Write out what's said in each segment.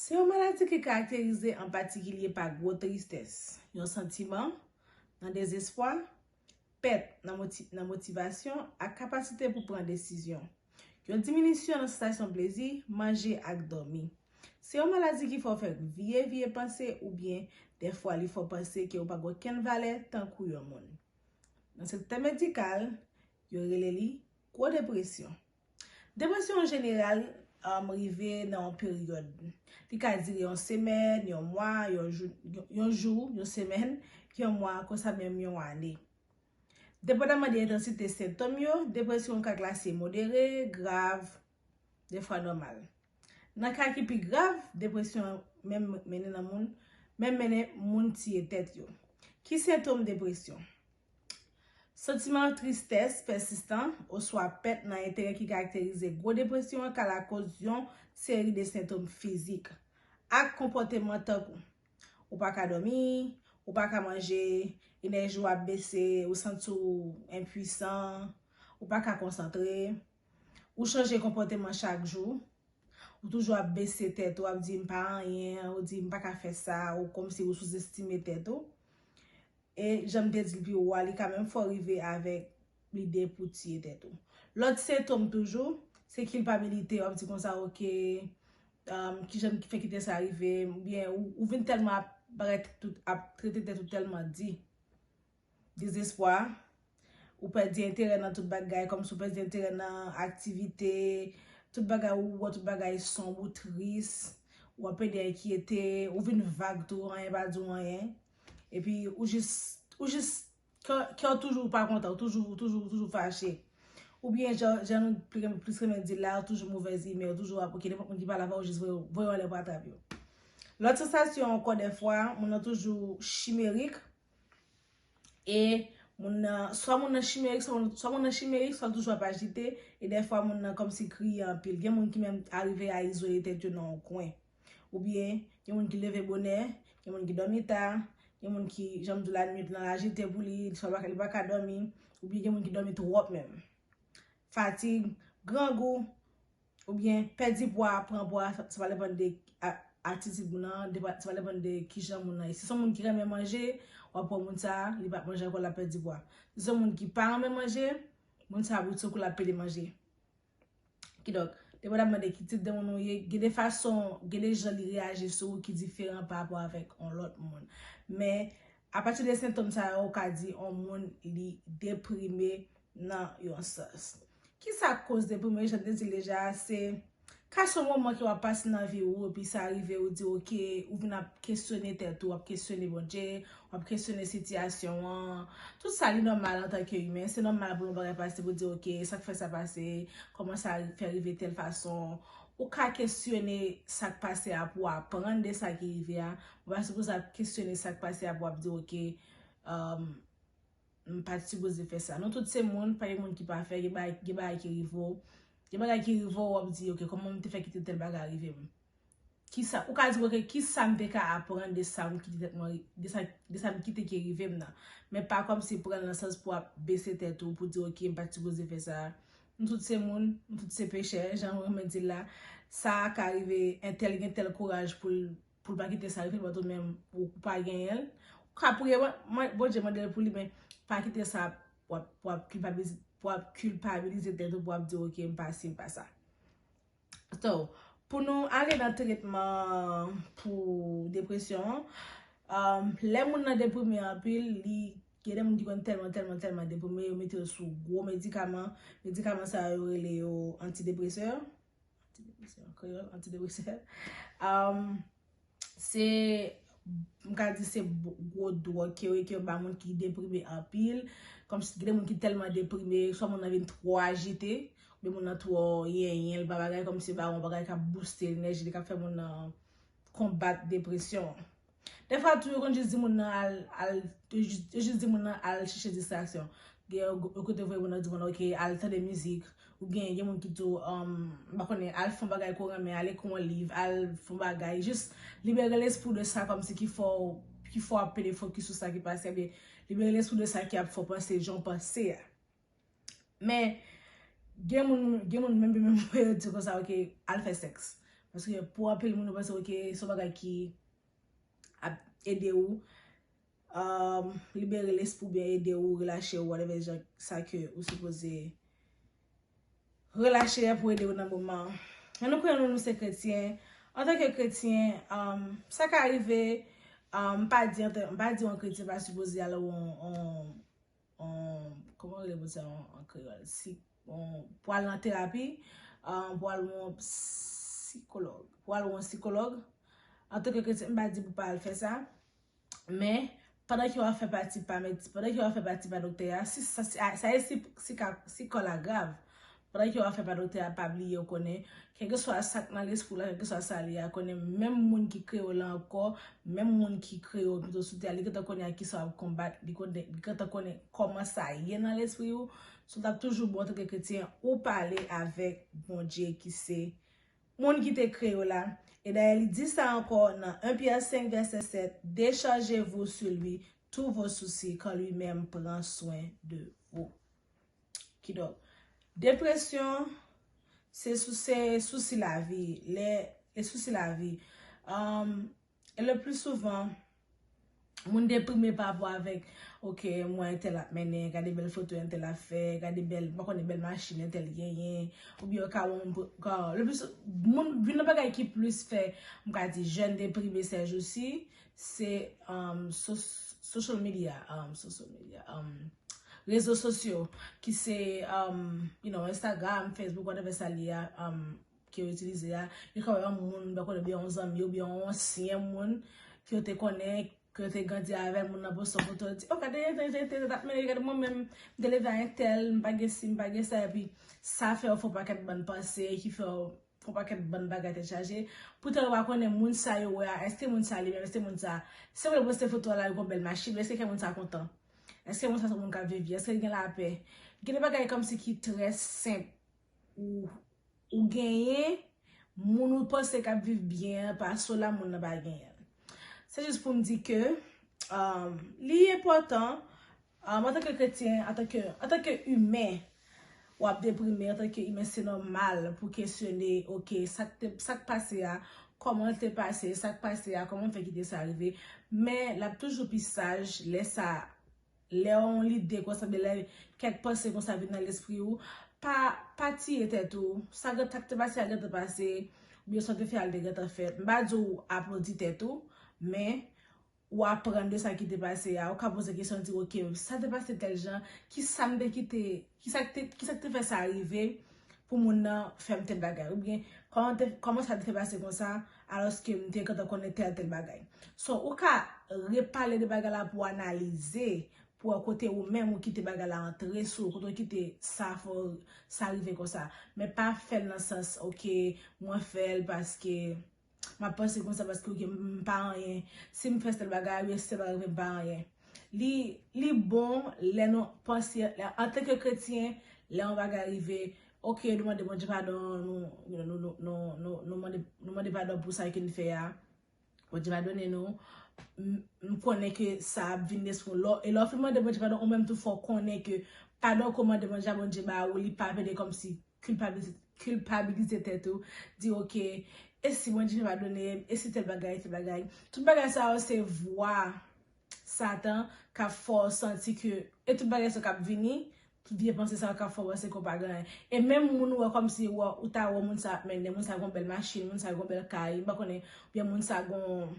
Se yon maladi ki karakterize an patikilye pa gwo tristès, yon santiman nan dezespwa, pèt nan motivasyon ak kapasite pou pran desizyon, yon diminisyon nan sansasyon plezi, manje ak dòmi. Se yon maladi ki fè w fè vye vye panse oubyen dèfwa li fè w panse ke ou pa gen okenn valè tankou yon moun. Nan sektè medikal, yo rele li gwo depresyon. Depresyon an jeneral rive nan yon peryòd. Li ka dire yon semèn, yon mwa, yon jou, yon jou, yon semèn, yon mwa, konsa menm yon ane. Depandaman de entansite sentòm yo, depresyon an ka klase modere, grav, defwa nòmal. Nan ka ki pi grav, depresyon an menm mennen nan moun, menm mennen moun tiye tèt yo. Ki sentòm depresyon? Santiman tristès pèsistan oswa pèt nan enterè ki karakterize gwo depresyon an ka lakòz yon seri de sentom fizik ak konpòteman tankou, ou pa ka dòmi, ou pa ka manje, enèji w ap bese, ou santi w enpuisan, ou pa ka konsantre, ou chanje konpòteman chak jou, ou toujou ap bese tèt ou, ap di m pa anyen, ou di m pa ka fè sa, ou kòmsi ou souzestime tèt ou. E jan m te di l pi wo a, li ka menm fè w rive avèk lide pou w tiye tèt ou. Lòt sentom toujou, se kilpabilite, w ap di konsa ok, ki jan m fè kite sa rive m, oubyen ou vin tèlman ap bagay ap trete tèt ou tèlman di. Dezespwa, ou pèdi enterè nan tout bagay, kòmsi ou pèdi enterè nan aktivite, tout bagay ou wè tout bagay sonb, ou tris, ou ap pèdi enkyete, ou vin vag tou, anyen pa di w anyen. Epi ou jis, ou jis, kèw toujou pa kontan, ou toujou, ou toujou, ou toujou fache. Ou byen jan, jan nou plis renmen dil la, ou toujou movèz imè, ou toujou ap oke, nenpòt moun ki pale avèw ou jis voye, voye yo anlè pou atrap yo. Lòt sansasyon ankò dèfwa, moun nan toujou chimerik, e moun nan, swa moun nan chimerik, swa moun nan, swa moun nan chimerik, swa l toujou ap ajite, e dèfwa moun nan kòmsi kriye anpil. Gen moun ki menm arive a izole tèt yo nan yon kwen. Oubyen, gen moun ki leve bonè, gen moun ki dòmi ta, gen moun ki, jan m di w la, nuit lan ajite pou li, li swa li pa ka dòmi, oubyen gen moun ki dòmi twòp menm. Fatig, grangou, oubyen pèdi pwa, pran pwa, sa va depann de atitid moun nan, sa va depann de ki jan moun nan ye. Si se yon moun ki renmen manje, w ap wè moun sa a, li pa manje ankò, l ap pèdi pwa. Si se yon moun ki pa renmen manje, moun sa a bridsoukou l ap pèdi manje. Ki donk, depi wè ap mande ki tip de moun ou ye, gen de fason, gen de jan li reyaji sou ou ki diferan pa rapò avèk yon lòt moun. Men, apati de sentòm sa yo, ou ka di yon moun li deprime nan yon sans. Ki sa k koz deprime? Jan m te di l deja a, se ka son moman ke w ap pase nan vi ou, epi sa rive ou di ok, ou vin ap kesyone tèt ou, w ap kesyone Bondje, W ap kesyone sitiyasyon an. Tout sa li nòmal antanke imen. Se nòmal pou yon bagay pase pou di ok, sa k fè sa pase? Kòman sa fè rive tèl fason? Ou ka kesyone sa k pase a pou w aprann de sa ki rive a. Ou pa sipoze ap kesyone sa k pase a pou w ap di ok, m pa t sipoze fè sa. Nou tout se moun, pa gen moun ki pafè, gen bagay ki rive w. Gen bagay ki rive w, w ap di ok, kòman m te fè kite tèl bagay rive m? Kisa, ou ka di ok kisa m te ka aprann de sa m kite tèt mwen, de sa m kite ki rive m nan. Men pa kòmsi pran l nan sans pou w ap bese tèt ou, pou di ok m pat sipoze fè sa. Nou tout se moun, nou tout se pechè, jan m renmen di l la. Sa a ka rive, entèl gen tèl kouraj pou l pa kite sa rive l patou men ou pa genyen l. Ou ka priye Bondye mande l pou li men pa kite sa pou w ap kilpabilize tèt ou pou w ap di ok m pa si m pa sa. So, pou nou ale nan tretman pou depresyon an, lè moun nan deprime anpil, li, gen de moun ki konn tèlman tèlman tèlman deprime yo mete yo sou gwo medikaman, medikaman sa yo rele yo antidepresè, antidepresè an kreyòl, antidepresè, se m ka di se gwo dwòg ke yo e ke yo ba moun ki deprime anpil. Kòm si gen moun ki tèlman deprime, swa moun nan vin twò ajite, oubyen moun nan twò yenyen, l pa bagay kòm si yo ba l yon bagay k ap bouste enèji li, k ap fè moun nan konbat depresyon an. Dèfwa tou yo konn jis di moun nan al, al, yo jis di moun nan al chèche distraksyon. Gen yon kote yo voye moun nan di moun nan ok al tande mizik, Ou byen gen moun ki di w, m pa konnen, al fè yon bagay ke w renmen, al ekri yon liv, al fè yon bagay. Jis libere lespri w de sa kòmsi ki fè w, ki fè w ap pede fokis sou sa ki pase a. Ebyen, libere lespri w de sa ki ap fè w panse jan w panse a. Men, gen moun, gen moun menm menm pou yo di konsa ok, al fè sèks. Paske pou anpil moun yo panse ok, se yon bagay ki ap ede ou. Libere lespri ou byen ede ou relaxe ou whatever jan sa ke ou sipoze relaxe pou ede ou nan moman. Jan nou konnen nou se kretyen, antan ke kretyen, sa ka rive, m pa di yon kretyen pa sipoze al yon, kòman yo rele moun sa yo an kreyòl, pou al nan terapi, pou al wè yon psikològ, pou al wè yon psikològ, antan ke kretyen m pa di pou pa al fè sa. Men, pandan ke w ap fè pati pa medsi, pandan ke w ap fè pati pa doktè a, si sa, sa ye si, si ka, si kò la grav, pandan ke w ap fè pa doktè a, pa bliye w konnen, kèlkeswa sa k nan lespri w la, kèlkeswa sa l ye a, konnen menm moun ki kreye w lan ankò, menm moun ki kreye w pito sou tè a, li gentan konnen ak ki sa w ap konbat, li konnen, li gentan konnen kòman sa ye nan lespri w. So, l t ap toujou bon antanke kretyen ou pale avèk Bondye ki se Moun ki te kreye w la. E dayè li di sa ankò nan 1 Pyè 5 vèsè 7, Déchargez-vous sur lui tous vos soucis, car lui-même prend soin de vous. Kidonk, depresyon se sou se sousi lavi, lè, e sousi lavi. Le plus souvent Moun deprime pa rapò avèk ok m wè entèl ap mennen gade bèl foto entèl ap fè gade bèl m pa konnen bèl machin entèl genyen oubyen yo ka wè yon le plus souvent moun youn nan bagay ki plis fè m ka di jèn deprime sèjousi se social media social media rezo sosyo ki se you know Instagram Facebook whatever sa li ye a ke yo itilize a, yo ka wè yon moun, bè konnen, oubyen yon zanmi, oubyen yon ansyen moun, ke yo te konnen, ke yo te grandi avèl, moun nan poste yon foto, di, o gade, entè, entè, entè, entè, men gade mwen menm, m te leve a entèl, m pa gen si, m pa gen sa, epi, sa fè w fè yon pakèt bann panse, ki fè w, fè yon pakèt bann bagay tèt chaje, poutan yo pa konnen moun sa yo wè a, èske moun sa li menm, èske moun sa, se moun yo poste foto a la, li gon bèl machin, men èske kè moun sa kontan? Èske moun sa se yon moun k ap viv byen? Èske l gen lapè? Gen de bagay kòmsi ki trè senp, ou genyen moun ou panse k ap viv byen an pa sou la moun nan pa genyen l. Se jis pou m di ke li enpòtan antanke kretyen, antanke imen w ap deprime, antanke imen se nòmal pou w kesyone ok sa k pase a kòman l te pase, sa k pase a kòman m fè kite sa rive men l ap toujou pi saj lè sa Lè yon lide konsa oubyen lè kèk panse konsa vin nan lespri ou, pa pa tiye tèt ou. Sa k te pase a gentan pase, oubyen sa w te fè a l te gentan fèt. M pa di w aplodi tèt ou, men ou aprann de sa ki te pase a. Ou ka poze kesyon di ok, sa te pase tèl jan, kisa m te kite, kisa k te fè sa rive, pou moun nan fè m tèl bagay oubyen kòman sa te fè pase konsa alòske m te gentan konnen tèl tèl bagay. So ou ka repale de bagay la pou analize, pou wè kote ou menm ou kite bagay la antre sou ou, kote ou kite sa fè w sa rive konsa. Men pa fè l nan sans ok mwen fè l paske. Map panse konsa paske ok mpa anyen sim fè sèl bagay a ui sèl bagay mwen mpa anyen li li bon lè nou panse antanke kretyen lè yon bagay rive ok nou mande Bondye padon nou mande padon pou sa ke nou fè a Bondye padone nou nou konnen ke sa ap vin de sou nou e lè ou fin mande Bondye padon ou menm tou fò konnen ke padon ke ou mande Bondye a Bondye ba ou li pa vle de kòmsi kilpabilize tèt ou, di ok, e si Bondye te pa done m, e si tèl bagay, tèl bagay. Tout bagay sa yo se vwa satan k ap fè w santi ke, e tout bagay sa yo k ap vini, tout vye panse sa yo k ap fè w panse ke w pa gen anyen. E menm moun ou wè kòmsi ou ta wè moun sa ap mennen, moun sa gen yon bèl machin, moun sa gen yon bèl kay, m pa konnen, oubyen moun sa gen yon,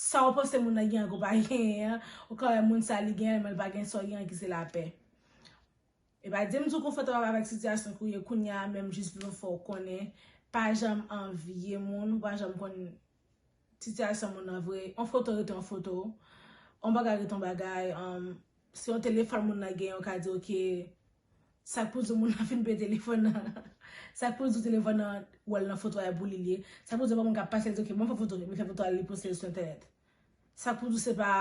sa ou panse moun nan gen an ke w pa genyen an, ou ka wè moun sa li genyen men l pa gen sa w genyen an ki se lapè. Epa dim di w konfòtab avèk sitiyasyon ke w ye kounye a men m jis vle fè w konnen pa janm anvye moun ou pa janm konn sitiyasyon moun nan vre yon foto rete yon foto yon bagay rete yon bagay se yon telefòn moun nan gen yo ka di ok sa k pou di moun nan fin peye telefòn nan sa k pou di telefòn nan wè l nan foto a e pou li l ye sa k pou di yon moun ka pase l di ok banm fè foto li fè foto a li poste l sou entènèt sa k pou di se pa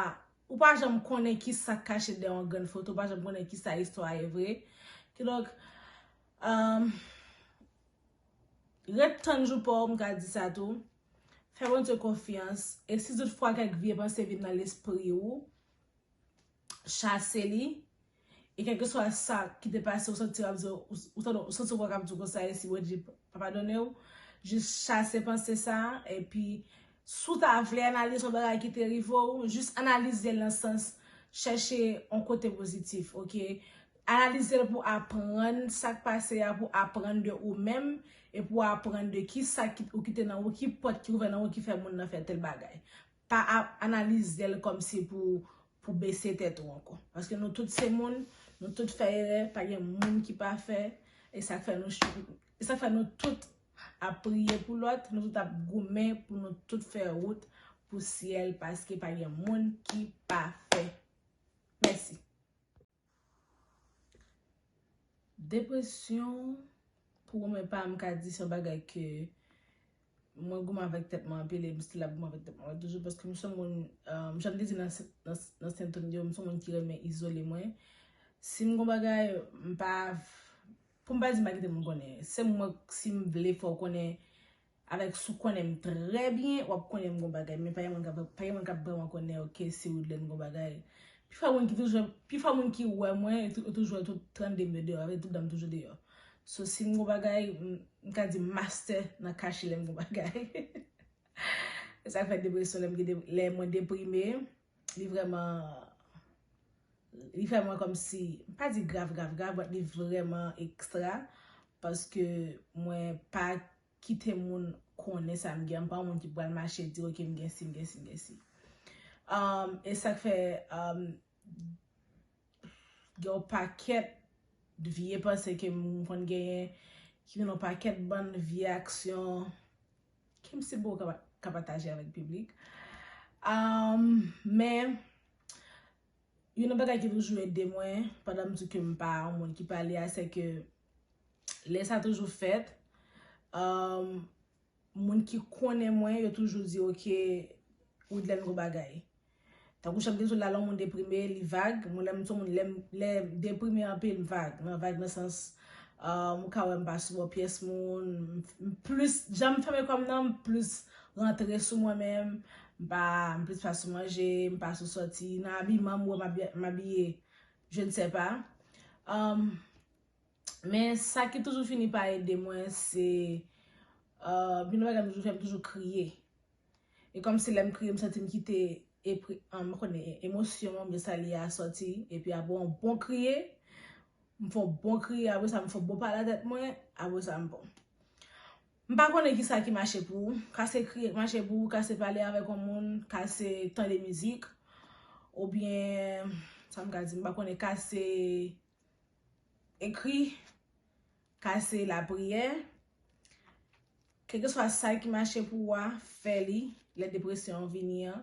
Ou pa janm konnen ki sa k kache dèyè yon grenn foto, ou pa janm konnen ki sa istwa a ye vre. Kidonk, ret tann jou pa w, m ka di sa tou. Fè Bondye konfyans, e si tout fwa kèk vye panse vin nan lespri ou, chase li. E kèlkeswa sa ki te pase ou santi w ap di yo, ou tande ou santi vwa k ap di w konsa e si Bondye pa padone w, jis chase panse sa a epi si w ta vle analize yon bagay ki te rive w, jis analize l nan sans chèche yon kote pozitif ok. Analize l pou aprann sa k pase a, pou aprann de ou menm e pou aprann de kisa ou kite nan ou, ki pòt ki ouvè nan ou ki fè moun nan fè tèl bagay. Pa ap analizel kom si pou pou bese tet ou anko. Paske nou tout se moun, nou tout fè erè, pa gen moun ki pafè, e sak fè nou chak e sak fè nou tout ap priye pou lot, nou tout ap goumen pou nou tout fè wout pou syel paske pa gen moun ki pafè. Mèsi. Depresyon pou mwen pa m ka di se yon bagay ke mwen goumen avèk tèt mwen anpil e m still ap goumen avèk tèt mwen toujou paske m se yon moun jan m te di nan sentòm yo m se yon moun ki renmen izole mwen si m gen yon bagay m pa pou m pa di m pa kite moun konnen se mwen si m vle fè w konnen Alex ou konnen m trè byen wap konnen m gon bagay men pa gen moun kap vreman konnen ok si Woodlen gon bagay pifwa moun ki toujou pifwa moun ki wè mwen yo toujou wè tout 32 m yo deyò avè tout dan m toujou deyò so si m gon bagay m ka di m mastè nan kache lè m gon bagay esak fè depresyon lè mwen deprime. li vreman, li fè mwen komsi, pa di grav grav grav, but li vreman ekstra, paske mwen pa kite moun konnen sa m gen, m pa yon moun ki pral mache di ok m gen si, m gen si, m gen si. E sak fè, gen yon pakèt vye panse ke m konn genyen, ki gen yon pakèt bann vye aksyon, Ki m sipo w ka pataje avèk piblik? Men, youn nan bagay ki toujou ede mwen, pandan m di ke m pa yon moun ki pale a, se ke lè sa toujou fèt, moun ki konnen mwen yo toujou di ok, Widlène gwo bagay. Tankou chant Genson la lè yon moun deprime li vag, mwen lèm son moun lèm lèm deprime anpil m vag, mwen vag nan sans euh ou ka wèm pa sou bò pyès moun, m plis janm fèmen kòm nan m plis rantre sou mwen menm, m pa m plis pa sou manje, m pa sou sòti, nan abiman m wè m abiye je ne sais pas euh men sa ki toujou fini pa ede mwen se euh gen de bagay m toujou fè m toujou kriye, E kòmsi lè m kriye m santi m kite epri m konnen emosyon an oubyen sa li ye a sòti epi apre yon bon kriye m fon bon kriye apre sa m fon bon pale a tèt mwen apre sa m bon. M pa konnen kisa ki mache pou ou, ka se kriye k mache pou ou, ka se pale avèk yon moun, ka se tande mizik oubyen sa m ka di m pa konnen ka se ekri Ka se lapriyè. Kèlkeswa sa ki mache pou ou a, fè li. Lè depresyon an vini an,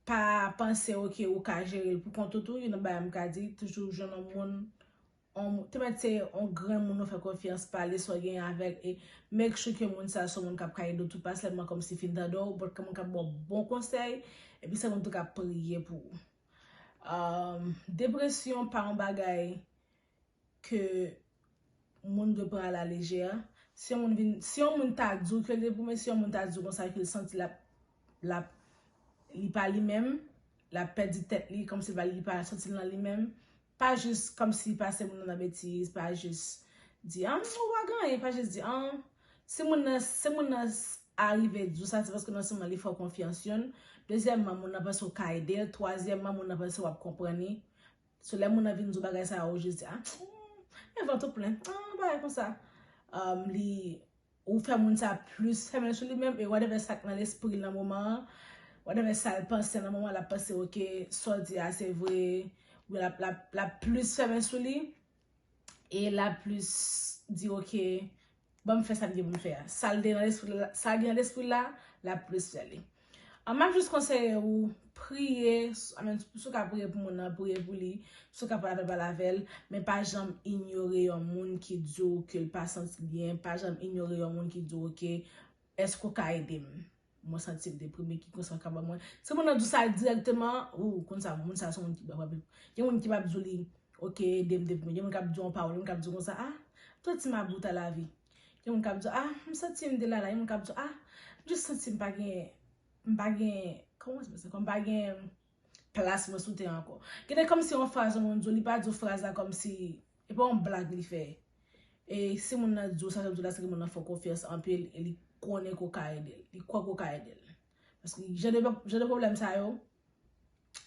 pa panse ok ou ka jere l pou kont ou tou. Youn nan bagay m ka di, toujou jwenn yon moun, te mèt se yon granmoun ou fè konfyans, pale sa w genyen avè l e make sure ke moun sa a se yon moun k ap ka ede w tou, pa sèlman kòmsi fin tande w, bòt moun k ap ba w bon konsèy epi se moun tou k ap priye pou ou. Depresyon pa yon bagay. ke moun dwe pran a la lejè. Si yon moun vin, si yon moun ta di w ke l te goumen, si yon moun ta di w konsa ke l santi l ap, l ap, li pa li menm, l ap pèdi tèt li, kòm si l pa li, li pa santi l nan li menm, pa jis kòm si pase moun nan nan betiz, pa jis di an, ou pa gen anyen, pa jis di an. Si moun nan, si moun nan arive di w sa, se paske non sèlman li fè w konfyans youn, dezyèmman moun nan panse w ka ede l, twazyèmman moun nan panse w ap konprann li. So lè moun nan vin di w bagay sa a ou jis di ah men vant ou plen, ah yon bagay konsa li ou fè moun sa plis fèmen sou li menm e whatever sa k nan lespri l nan moman an whatever sa l panse nan moman l ap panse ok sa w di a se vre ou l ap plis fèmen sou li. e lap plis di ok banm fè sa m gen pou m fè a sa gen nan lespri l la lap plis fè li an map jis konseye ou priye si w ka priye pou moun nan priye pou li si w ka pale avèl pale avèl men pa janm inyore yon moun ki di w ke l pa santi byen pa janm inyore yon moun ki di w ke èske w ka ede m. Mwen santi m deprime ki konsa ka ba mwen. Si moun nan di w sa direkteman, ou konn sa moun sa se moun ki pap gen moun ki pap di w li ok ede m deprime gen moun kap di w yon pawòl gen moun kap di w konsa a to ti ma bout a la vi gen moun kap di w a m santi m delala gen moun kap di w a m jis santi m pa gen m pa gen kòman se m pa gen Plas mwen sou tè an ankò. Gen de kòmsi yon fraz yon moun di w, li pa di w fraz la kòmsi e pa yon blag li fè. E si moun nan di w sa ke l di w la se ke moun nan fè w konfyans anpil e li konnen ke w ka ede l. Li kwè ke w ka ede l. Paske jan de pwoblèm sa yo,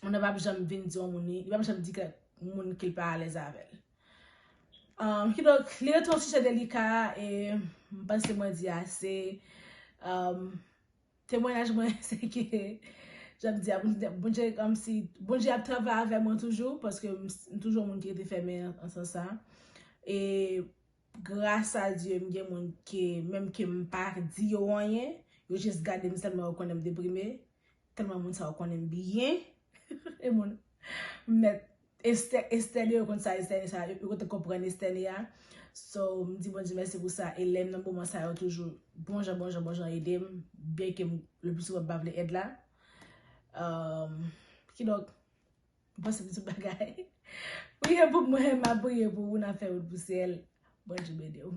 moun nan pa p janm vin di yon moun li, li pa p janm di ke moun ke l pa alèz avè l. Kidonk, li rete yon sijè delika e m panse mwen di ase. Temwanyaj mwen se ke janm di a Bondye kòmsi Bondye ap travay avè mwen toujou paske m toujou yon moun ki rete fèmen nan sans sa e gras a Dye m gen moun ke menm ke m pa di yo anyen yo jis gade m sèlman yo konnen m deprime tèlman moun sa yo konnen m byen e moun m mèt Estè estène yo konn sa estène sa yo yo te konprann estène a so m di Bondye mèsi pou sa e lè m nan moman sa yo toujou bon jan bon jan bon jan ede m byen ke m le pli souvan m pa vle èd la kidonk m panse m di tout bagay priye pou mwen m ap priye pou ou n ap fè wout pou syèl Bondye beni w.